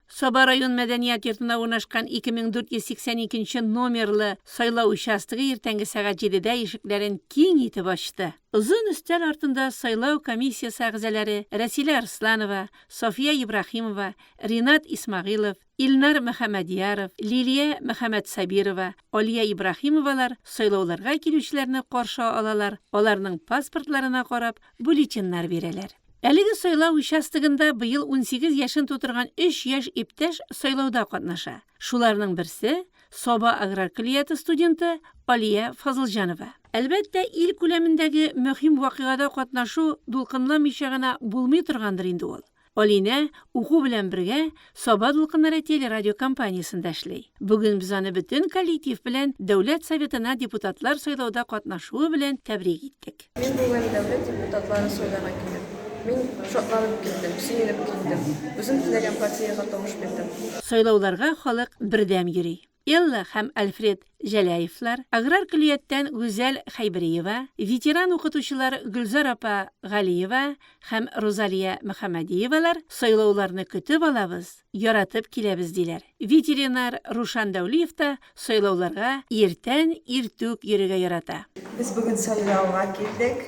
Саба район мәдәният йортында урнашкан 2482 нче номерлы сайлау участогы иртәнге сәгать җидедә ишекләрен киң итеп ачты. Озын өстәл артында сайлау комиссиясе әгъзаләре Рәсилә Арсланова, София Ибраһимова, Ринат Исмагыйлов, Илнар Мөхәммәдьяров, Лилия Мөхәммәтсабирова, Алия Ибраһимовалар сайлауларга килүчеләрне каршы алалар, аларның паспортларына карап, бюллетеньнар бирәләр. Әлеге сайлау участогында быел 18 яшен тутырган 3 яшь иптәш сайлауда катнаша. Шуларның берсе, Саба аграр көллияте студенты Алия Фазылҗанова. Әлбәттә, ил күләмендәге мөһим вакыйгада катнашу дулкынламыйча гына булмый торгандыр инде ул. Алинә, уку белән бергә, Саба дулкыннары телерадиокомпаниясендә эшли. Бүген без аны бөтен коллектив белән Дәүләт Советына депутатлар сайлауда катнашуы белән тәбрик иттек. Мин бүген дәүләт депутатлары сайларга килдем. Мин шатланып килдем, сөенеп килдем. Үзем теләгән партиягә тавыш бирдем. Сайлауларга халык бердәм йөри. Элла һәм Альфред Җәләевлар, аграр көллияттән Гүзәл Хәйбериева, ветеран укытучылар Гөлзар апа Галиева һәм Рузалия Мөхәммәдиевалар сайлауларны көтеп алабыз, яратып киләбез, диләр. Ветеринар Рушан Дәүлиев та сайлауларга иртән иртүк йөрергә ярата. Без бүген сайлауга килдек.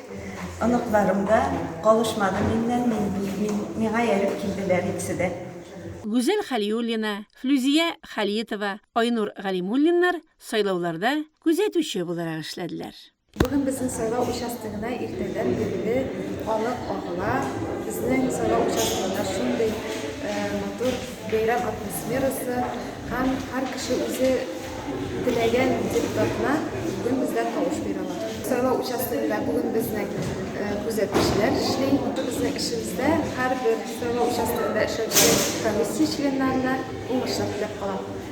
Оныкларым да калышмады миннән, миңа ияреп килделәр икесе дә. Гүзәл Хәлиуллина, Флүзия Хәлиетова, Айнур Галимуллиннар сайлауларда күзәтүче буларак эшләделәр. Бүген безнең сайлау участогына иртәдән бирле халык агыла. Безнең сайлау участогында шундый матур бәйрәм атмосферасы һәм һәр кеше үзе теләгән депутатына бүген бездә тавыш бирә ала. Сайлау участогында бүген безнең күзәтүчеләр эшли. Безнең эшебездә һәрбер Сайлау участогында эшләүче комиссия членнарына уңышлар теләп калам.